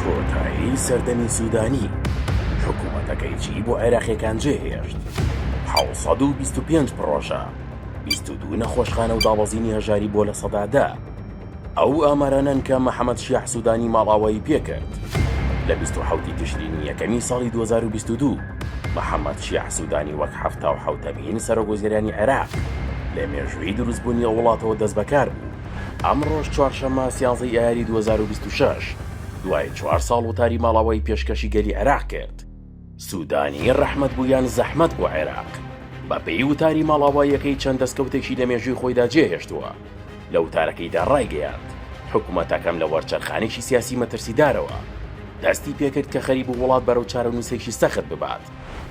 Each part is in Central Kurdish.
کۆتایی سەردەمی سودانی حکومەتەکەی چی بۆ عێراقیەکان جێ هێشت حەوت سەد و بیست و پێنج پڕۆژە بیست و دوو نەخۆشخانە و دابەزینی هەژاری بۆ لە سەدا دە ئەو ئامارانەن کە مەحەمەد شیاح سودانی ماڵاوایی پێکرد لە بیست و حەوتی تشرینی یەکەمی ساڵی دوو هەزار و بیست و دوو مەحەمەد شیاح سودانی وەک حەفتا و حەوتەمین سەرۆک وەزیرانی عێراق لە مێژووی دروستبوونی ئەو وڵاتەوە دەستبەکار بوو ئەمڕۆش چوارشەممە سیانزەی ئایاری دوو هەزار و بیست و شەش دوای چوار ساڵ وتاری ماڵئاوایی پێشکەشی گەلی عێراق کرد. سوودانی ڕەحمەت بوو یان زەحمەت بۆ عێراق؟ بە پێی وتاری ماڵئاواییەکەی چەند دەستکەوتێکی لە مێژووی خۆیدا جێ هێشتووە. لە وتارەکەیدا ڕایگەیاند، حکومەتەکەم لە وەرچەرخانێکی سیاسی مەترسیدارەوە دەستی پێ کرد کە خەریبوو وڵات بەرەو چارەنووسێکی سەخت ببات،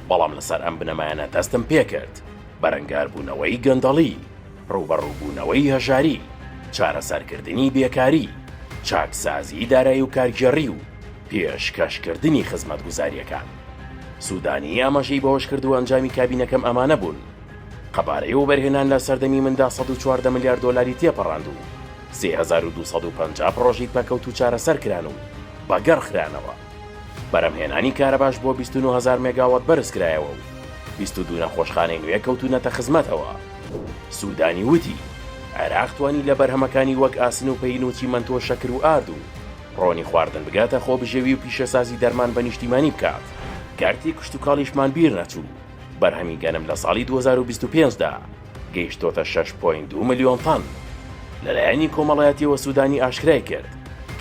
بەڵام لەسەر ئەم بنەمایانە دەستم پێ کرد. بەرەنگاربوونەوەی گەندەڵی. ڕووبەڕووبوونەوەی هەژاری، چارەسەرکردنی بێکاری، چاکسازیی دارایی و کارگێڕی و پێشکەشکردنی خزمەتگوزارییەکان. سوودانی ئاماژەی بەوەشکردووە ئەنجامی کابینەکەم ئەمانە بوون، قەبارەی وەبەرهێنان لە سەردەمی مندا سەد و چواردە ملیار دۆلاری تێپەڕاند و سێ هەزار و دوو سەد و پەنجا پڕۆژەی پەکەوتوو چارەسەرکران و بەگەڕخرانەوە، بەرهەمهێنانی کارەباش بۆ بیست و نۆ هەزار مێگاوات بەرزکرایەوە و بیست و دوو نەخۆشخانەی نوێ کەوتوونەتە خزمەتەوە. سوودانی وتی، عێراق توانی لە بەرهەمەکانی وەک ئاسن و پەین و چیمەنتۆ شەکر و ئارد و ڕۆنی خواردن بگاتە خۆبژێوی و پیشەسازی دەرمان بە نیشتیمانی بکات، کەرتی کشتوکاڵیشمان بیرنەچوو، بەرهەمی گەنم لە ساڵی دوو هەزار و بیست و پێنج دا گەیشتۆتە شەش پۆینت دوو ملیۆن تەن. لە لایەنی کۆمەڵایەتیەوە سوودانی ئاشکرای کرد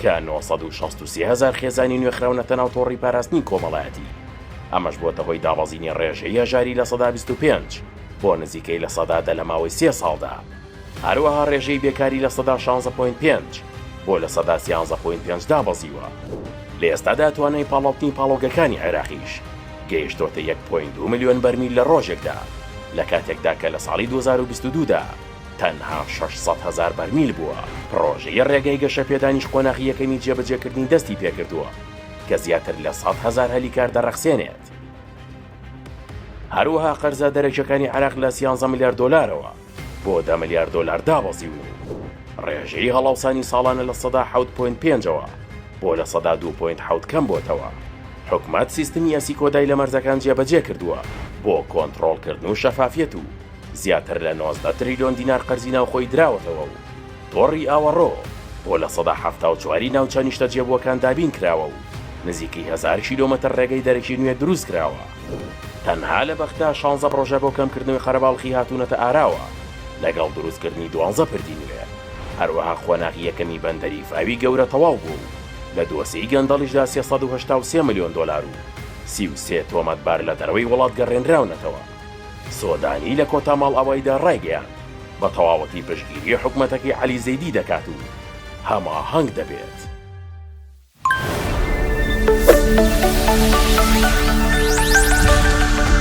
کە نۆ سەد و شەست و سێ هەزار خێزانی نوێ خراونەتە ناو تۆڕی پاراستنی کۆمەڵایەتی، ئەمەش بۆتە هۆی دابەزینی ڕێژەی هەژاری لە سەدا بیست و پێنج. بۆ نزیکەی لە سەدا دە لە ماوەی سێ ساڵدا، هەروەها ڕێژەی بێکاری لە سەدا شانزە پۆینت پێنج بۆ لە سەدا سیانزە پۆینت پێنج دابەزیوە، لە ئێستادا توانای پاڵاوتنی پاڵەوگەکانی عێراقیش گەیشتۆتە یەک پۆینت دوو ملیۆن بەرمیل لە ڕۆژێکدا، لە کاتێکدا کە لە ساڵی دوو هەزار و بیست و دوو دا تەنها شەش سەد هەزار بەرمیل بووە. پڕۆژەی ڕێگای گەشەپێدانیش قۆناغی یەکەمی جێبەجێکردنی دەستی پێکردووە، کە زیاتر لە سەد هەزار هەلی کار دەڕەخسێنێت. هەروەها قەرزە دەرەکیەکانی عێراق لە سیانزە ملیار دۆلارەوە بۆ دە ملیار دۆلار دابەزیون و ڕێژەی هەڵاوسانی ساڵانە لە سەدا حەوت پۆینت پێنجەوە بۆ لە سەدا دوو پۆینت حەوت کەم بۆتەوە حکومەت سیستمی ئەسی کۆدای لە مەرزەکان جێبەجێ کردووە بۆ کۆنتڕۆڵکردن و شەفافیەت و زیاتر لە نۆزدە تریلیۆن دینار قەرزی ناوخۆی دراوەتەوە و تۆڕی ئاوەڕۆ بۆ لە سەدا حەفتا و چواری ناوچە نیشتەجێبووەکان دابین کراوە و نزیکەی هەزار کیلۆمەتر ڕێگەی دەرەکی نوێ دروست کراوە. تەنها لە بەغدا شانزە پڕۆژە بۆ کەمکردنەوەی قەرەباڵخی هاتوونەتە ئاراوە، لەگەڵ دروستکردنی دوانزە پردی نوێ. هەروەها قۆناغی یەکەمی بەندەری فاوی گەورە تەواو بووە و لە دۆسێی گەندەڵیشدا سێ سەد و هەشتا و سێ ملیۆن دۆلار و سی و سێ تۆمەتبار لە دەرەوەی وڵات گەڕێنراونەتەوە. سوودانی لە کۆتا ماڵئاواییدا ڕایگەیاند، بە تەواوەتی پشتگیری حکومەتەکەی عەلی زەیدی دەکات و هەماهەنگ دەبێت.